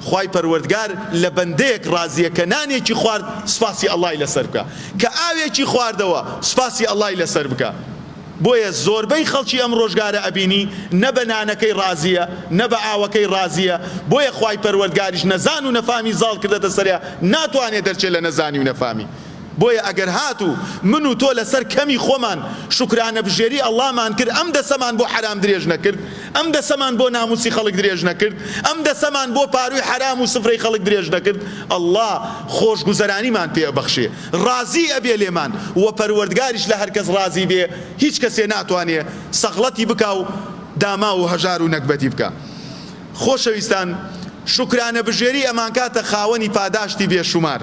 خوای پەروەردگار لە بەندەیەک ڕازیە کە نانێکی خوارد سوپاسی اللە ی لەسەر بکە کە ئاوێکی خواردەوە سوپاسی اللە ی لەسەر بکە بۆیە زۆربەی خەڵکی ئەم ڕۆژگارە ئەبینی نە بە نانەکەی ڕازیە نە بە ئاوەکەی ڕازیە بۆیە خوای پەروەردگاریش نەزان و نەفامی زاڵ کردەتە سەریا ناتوانێ دەرچێ لە نەزانی و نەفامی بۆیە ئەگەر هاتوو من و تۆ لەسەر کەمی خۆمان شوکرانەبژێری ئەڵڵامان کرد ئەم دەسەمان بۆ حەرام درێژ نەکرد ئەم دەسەمان بۆ ناموسی خەڵک درێژ نەکرد ئەم دەسەمان بۆ پاروی حەرام و سفرەی خەڵک درێژ نەکرد ئەڵڵا خۆشگوزەرانیمان پێ ئەبەخشێ ڕازی ئەبێ لێمان وە پەروەردگاریش لە هەر کەس ڕازی بێ هیچ کەسێ ناتوانێ سەغڵەتی بکا و داماو و هەژار و نەگبەتی بکا خۆشەویستان شوکرانەبژێری ئەمانکاتە خاوەنی پاداشتی بێ شومار.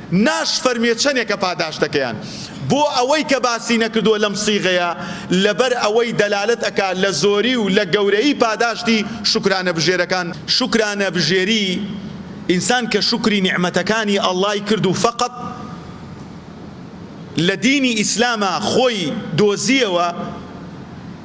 ناشفەرموێ چەنێکە پاداشتەکەیان بۆ ئەوەی کە باسی نەکردووە لەم صیغەیە لەبەر ئەوەی دەلالەت ئەکا لە زۆری و لە گەورەیی پاداشتی شوکرانەبژێرەکان، شوکرانەبژێری ئینسان کە شوکری نیعمەتەکانی اللەی کرد و فەقەت لە دینی ئیسلاما خۆی دۆزیەوە،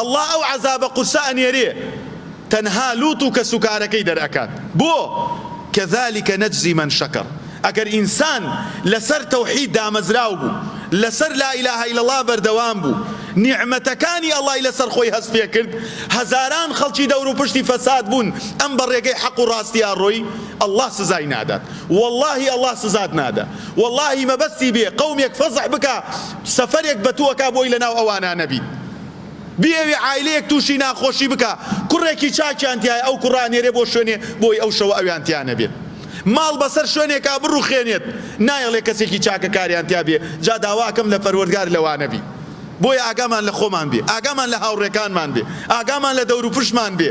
اللە ئەو عەزابە قورسە ئەنێرێ تەنها لوط و کەس و کارەکەی دەرئەکات بۆ؟ کذلک نجزی من شکر ئەگەر ئینسان لەسەر توحید دامەزراو بوو لەسەر لا الە الا اللە بەردەوام بوو نیعمەتەکانی اللە ی لەسەر خۆی هەست پێ کرد هەزاران خەڵکی دەور و پشتی فەساد بوون ئەم بە ڕێگەی حەق و ڕاستیا ڕۆی اللە سزای نادات واللە ی اللە سزات نادا واللە ی مەبەستی بێ قەومێک فەزح بکا سەفەرێک بەتو ئەکا بۆی لەناو ئەوانا نەبیت بیەوێ عایلەیەک توشی ناخۆشی بکا کوڕێکی چاکیان تیایە ئەو کوڕە ئەنێرێ بۆ شوێنێ بۆی ئەو شەوە ئەویان تیا نەبێت ماڵ بەسەر شوێنێکا بڕوخێنێت نایەڵێ کەسێکی چاکە کاریان تیا بێ جا داوا ئەکەم لە پەروەردگار لەوانە بی بۆیە ئاگامان لە خۆمان بێ ئاگامان لە هاوڕێکانمان بێ ئاگامان لە دەوروپشمان بێ